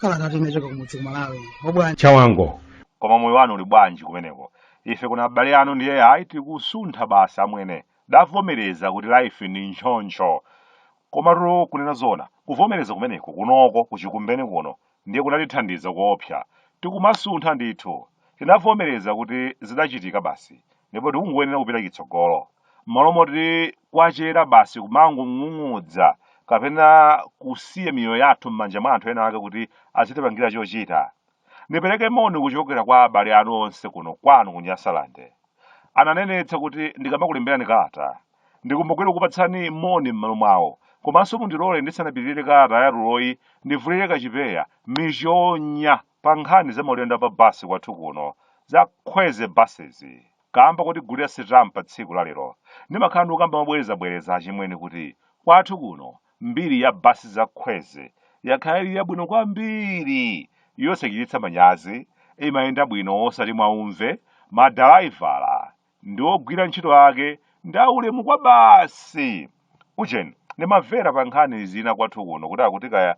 kalatatu inachoka kumudzi kumalawi obwanji chawango koma moyo wanu uli bwanji kumeneko ife kuna abale anu ndiye ayi tikusuntha basi amwene davomereza kuti life ndi choncho komatu kunena zona kuvomereza kumeneko kunoko kuchikumbeni kuno ndiye kunatithandiza koopsa. Tikumasuntha ndithu, tinavomereza kuti zidachitika basi ndipo tikungoyenera kupita chitsogolo, m'malo moti kwachera basi kumangong'ung'udza kapena kusiya miyoyo yathu m'manja mwa anthu ena ake kuti azitipangira chochita. Ndipereke moni kuchokera kwa abale anu onse kuno kwanu ku Nyasaland. Ananenetsa kuti ndikamakulemberani kalata Ndikumbukire kupatsani moni m'malo mwawo. Komanso mundilole ndisanapitirire kalata yatuloyi ndivulire kachipeya, michonya, pa nkhani za maulendo a pa basi kwathu kuno. Za Kwezy Buses. Kaamba kotigulira sitampa tsiku la lero, ndimakhala ndikukamba mobwerezabwereza achimwene kuti kwathu kuno mbiri ya basi za Kwezy yakhala ili yabwino kwambiri, yosachititsa manyazi, imayenda bwino osati mwaumve, madalaivala, ndi ogwira ntchito ake ndi aulemu kwabasi ujeni ndimamvera pa nkhani zina kwathu kuno kuti akuti kaya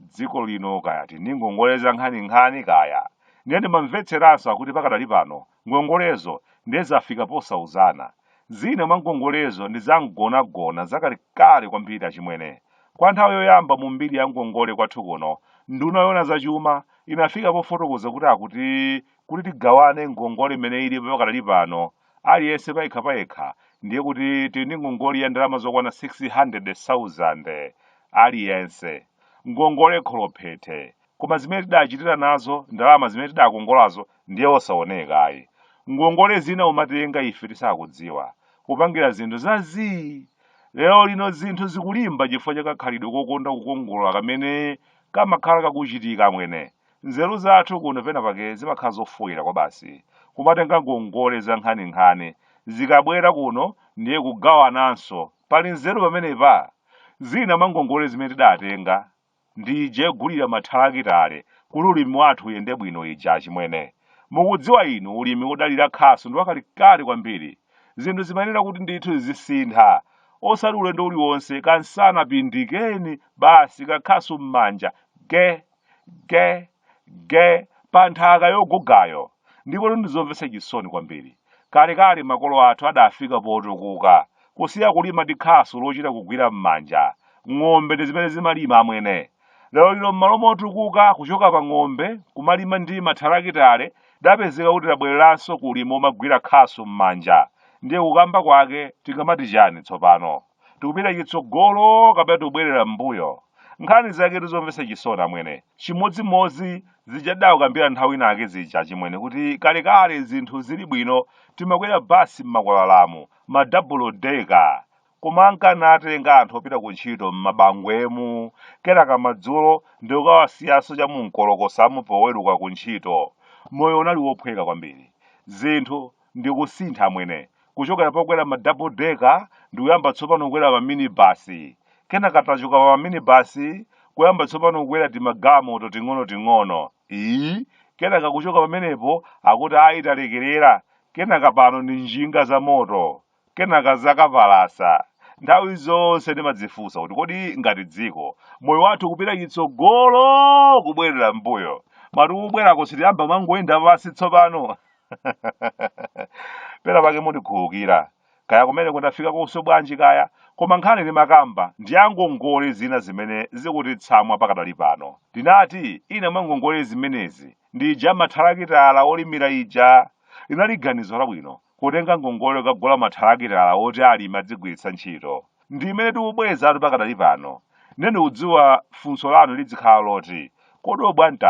dziko lino kaya tili ni ngongole za nkhaninkhani kaya ndiye ndimamvetseranso akuti pakadali pano ngongolezo ndiye zafika posauzana zina mwa ngongolezo ndi za mgonagona zakalekale kwambiri achimwene kwa nthawi yoyamba mu mbiri ya ngongole kwathu kuno nduna yoona zachuma inafika pofotokoza kuti akuti kuti tigawane ngongole imene ilipo pakadali pano aliyense payekha payekha ndiye kuti tili ndi ngongole ya ndalama zokwana 600,000 aliyense ngongole kholophethe koma zimene tidachitira nazo ndalama zimene tidakongolazo ndiye osaoneka ayi ngongole zina umatenga ife tisakudziwa kupangira zinthu za zii lero lino zinthu zikulimba chifukwa cha kakhalidwe kokonda kukongola kamene kamakhala kakuchitika amwene Nzeru zathu kuno penapake zimakhala zofoira kwabasi. Kumatenga ngongole zankhaninkhani. Zikabwera kuno ndiye kugawananso. Pali nzeru pamenepa? Zina mwa ngongole zimene tidatenga ndi ija yogulira mathalakitale kuti ulimi wathu uyende bwino ija achimwene. Mukudziwa inu ulimi wodalira khasu ndi wakalekale kwambiri. Zinthu zimayenera kuti ndithu zizisintha. Osati ulendo uliwonse kansana pindikeni basi kakhasu m'manja geh! ge ge pa nthaka yogugayo ndipo ndizomvetsa chisoni kwambiri kalekale makolo athu adafika potukuka kusiya kulima ndi khasu lochita kugwira m'manja ng'ombe ndi zimene zimalima amwene lero lino m'malo motukuka kuchoka pa ng'ombe kumalima ndi mathalakitale tapezeka kuti tabwereranso kulima momagwira khasu m'manja ndiye kukamba kwake tingamati chani tsopano tikupita chitsogolo kapena tikubwerera m'mbuyo nkhani zake ndi zomvetsa chisoni amwene chimodzimodzi zija tidakambira nthawi inake zija achimwene kuti kalekale zinthu zili bwino timakwera basi m'makwalalamu madabulo deka koma ankanatenga anthu opita ku ntchito m'mabangwemu kenaka madzulo ndikukawasiyanso cha mumkolokosamu poweruka ku ntchito moyo unali wophweka kwambiri zinthu ndikusintha amwene kuchokera pokwera ma double decker ndikuyamba tsopano kukwera ma minibus kenaka tachoka pa minibus kuyamba tsopano kukwera timagalimoto ting'onoting'ono iyi kenaka kuchoka pamenepo akuti ayi talekerera kenaka pano ndi njinga za moto kenaka zakapalasa nthawi zonse ndimadzifunsa kuti kodi ngati dziko moyo wathu kupita chitsogolo kubwerera mbuyo mwati kubwerako sitiyamba kumangoyenda pansi tsopano pena pake mundikhululukira kaya kumene kunafika konse bwanji kaya koma nkhani timakamba ndi ya ngongole zina zimene zikutitsamwa pakadali pano tinati ina mwa ngongole zimenezi ndi ija ya mathalakitala olimira ija linali ganizo labwino kutenga ngongole kukagula mathalakitala oti alimi adzigwiritsa ntchito ndi imene tikubwezatu pakadali pano ndiye ndikudziwa funso lanu lidzikhala loti kodi obwande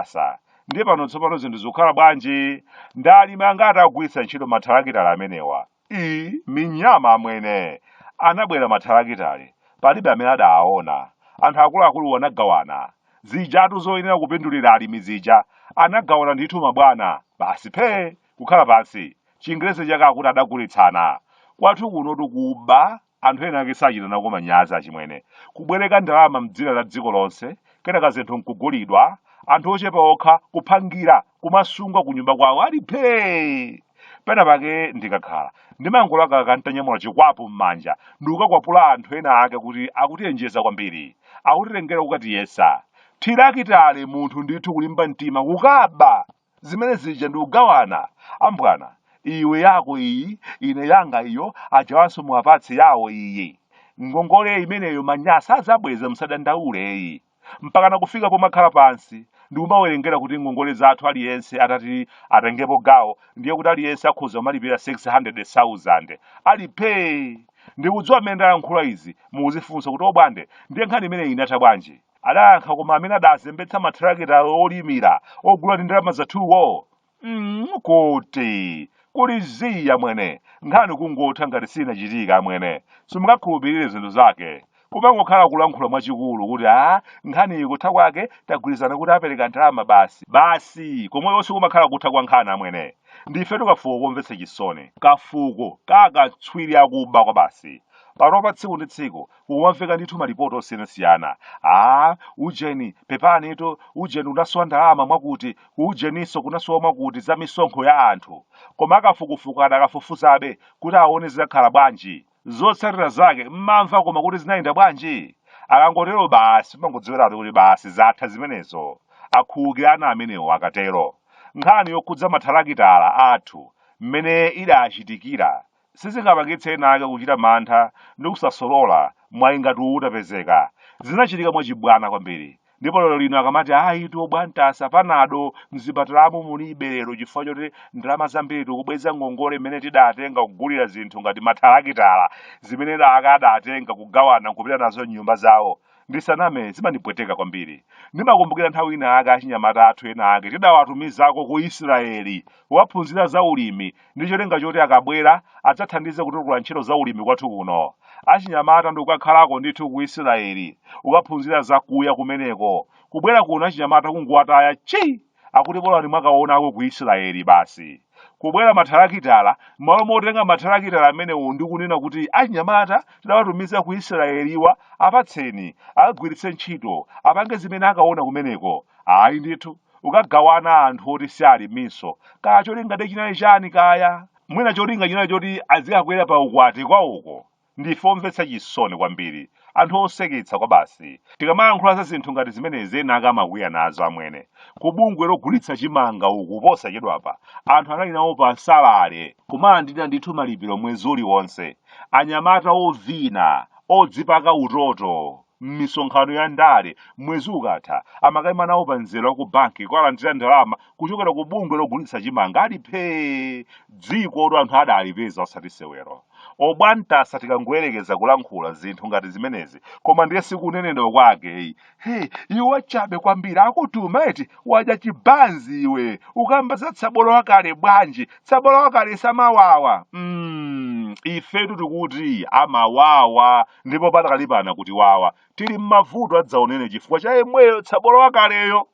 ndiye pano tsopano zinthu zikukhala bwanji ndi alimi angati akugwiritsa ntchito mathalakitala amenewa i minyama amwene anabwera mathalakitale palibe amene adawaona anthu akuluakulu anagawana zijatu zoyenera kupindulira alimi zija anagawana ndithu mabwana basi phee kukhala pansi chingerezi chake akuti adagulitsana kwathu kuno ndi kuba Anthu ena ake sachita nako manyazi achimwene. Kubwereka ndalama mdzina la dziko lonse, kenaka zinthu nkugulidwa, anthu ochepa okha kuphangira, kumasunga kunyumba kwawo ali phee! Pena pake ndikakhala, ndimangolakalaka ntanyamula chikwapu mmanja ndikukakwapula anthu ena ake kuti akutiyenjeza kwambiri, akutitengera kukatiyesa. Thirakitale munthu ndithu kulimba mtima kukaba! zimene zija ndikugawana ambwana iwe yako iyi ine yanga iyo ajawanso muwapatse yawo iyi ngongole imeneyo manyasa adzabweza msadandaule ayi mpakana kufika pomakhala pansi ndikumawerengera kuti ngongole zathu aliyense atati atengepo gawo ndiye kuti aliyense akhoza kumalipira 600000 ali phee ndikudziwa mmene ndalankhula izi mukudzifunsa kuti obwande ndiye nkhani imeneyi inatha bwanji adayankha koma amene adazembetsa mathalakitala olimira ogula ndi ndalama zathuwo mm, kuti kuli zii amwene nkhani kungotha ngati sinachitika amwene simungakhulupirire zinthu zake kumangokhala kulankhula mwachikulu kuti a nkhaniyi kutha kwake tagwirizana kuti apereka ndalama basi basi komwe yonse kumakhala kutha kwa nkhani amwene ndifetu kafuko komvetsa chisoni kafuko kakatswiri akuba kwabasi panopa tsiku ndi tsiku Kumamveka ndithu malipoti osiyanasiyana. Aaa, ujeni, pepanitu, ujeni unasowa ndalama mwakuti, kuujeninso kunasowa mwakuti za misonkho ya anthu. Koma akafukufuku adakafufuzabe kuti aone zidakhala bwanji. Zotsatira zake mmamva koma kuti zinayenda bwanji? Akangotero basi umangodziwiratu kuti basi zatha zimenezo. Akhululukirana amenewo akatero. Nkhani yokhudza mathalakitala athu mmene idachitikira sizingapangitse ena ake kuchita mantha ndi kusasolola mwayi ngati uwu utapezeka. Zinachitika mwachibwana kwambiri. Ndipo lero lino akamati ayitu bwantasa panado mzipatalamu mulibe lero chifukwa choti ndalama zambiri tikubweza ngongole imene tidatenga kugulira zinthu ngati mathalakitala zimene ena ake adatenga kugawana nkupita nazo m'nyumba zawo. ndisaname zimandipweteka kwambiri ndimakumbukira nthawi ina ake achinyamata athu ena ake tidawatumizako ku israeli kukaphunzira za ulimi ndi cholinga choti akabwera adzathandize kutukula ntchito za ulimi kwathu kuno achinyamata ndikukakhalako ndithu ku israeli kukaphunzira zakuya kumeneko kubwera kuno achinyamata kungowataya chi akuti bolani mwakaonako ku Israeli basi kubwera mathalakitala m'malo motenga mathalakitala amenewo ndi kunena kuti achinyamata tidawatumiza ku Israeliwa apatseni akagwiritse ntchito apange zimene akaona kumeneko ayi ndithu kukagawana anthu oti si aliminso kaya cholinga chake chinali chani kaya mwina cholinga chinali choti azikakwera pa ukwati kwawoko Ndife omvetsa chisoni kwambiri, anthu oseketsa kwabasi. Tikamayankhula za zinthu ngati zimenezi ena ake amakwiya nazo amwene. Ku bungwe logulitsa chimanga uku posachedwapa anthu anali nawo pa salale, kumalandira ndithu malipiro mwezi uliwonse. Anyamata ovina, odzipaka utoto, m'misonkhano ya ndale mwezi ukatha amakaima nawo pa mzere wa ku banki kukalandira ndalama kuchokera ku bungwe logulitsa chimanga ali phee dziko oti anthu adalipeza osati sewero obwantasa tikangoyerekeza kulankhula zinthu ngati zimenezi koma ndiye sikunenedwa kwake eyi he iwe wachabe kwambiri akutuma eti wadya chibanzi iwe ukamba za tsabola wakale bwanji tsabola wakale samawawa mm, ifetu tikuti amawawa ndipo patakalipano kuti wawa tili m'mavuto adzaoneni chifukwa cha yemweyo tsabola wakaleyo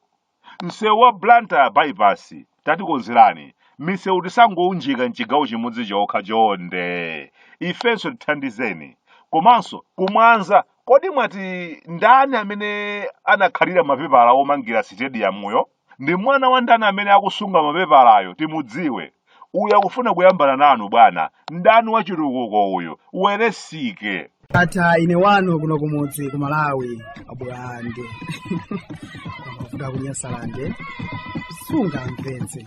msewu wa blantyre bypass tatikonzerani misewu isangounjikana mchigawo chimodzi chokha chonde ifenso tithandizeni komanso kumwanza kodi mwati ndani amene anakhalira mapepala omangira sitediyamuyo Ndi mwana wa ndani amene akusunga mapepalayo timudziwe. Uyu akufuna kuyambana nanu bwana. Mdani wa chitukuko uyu. Aoneke. Ndatha ine wanu kuno kumudzi ku malawi abwande kuda ku Nyasalande sunga mpenzi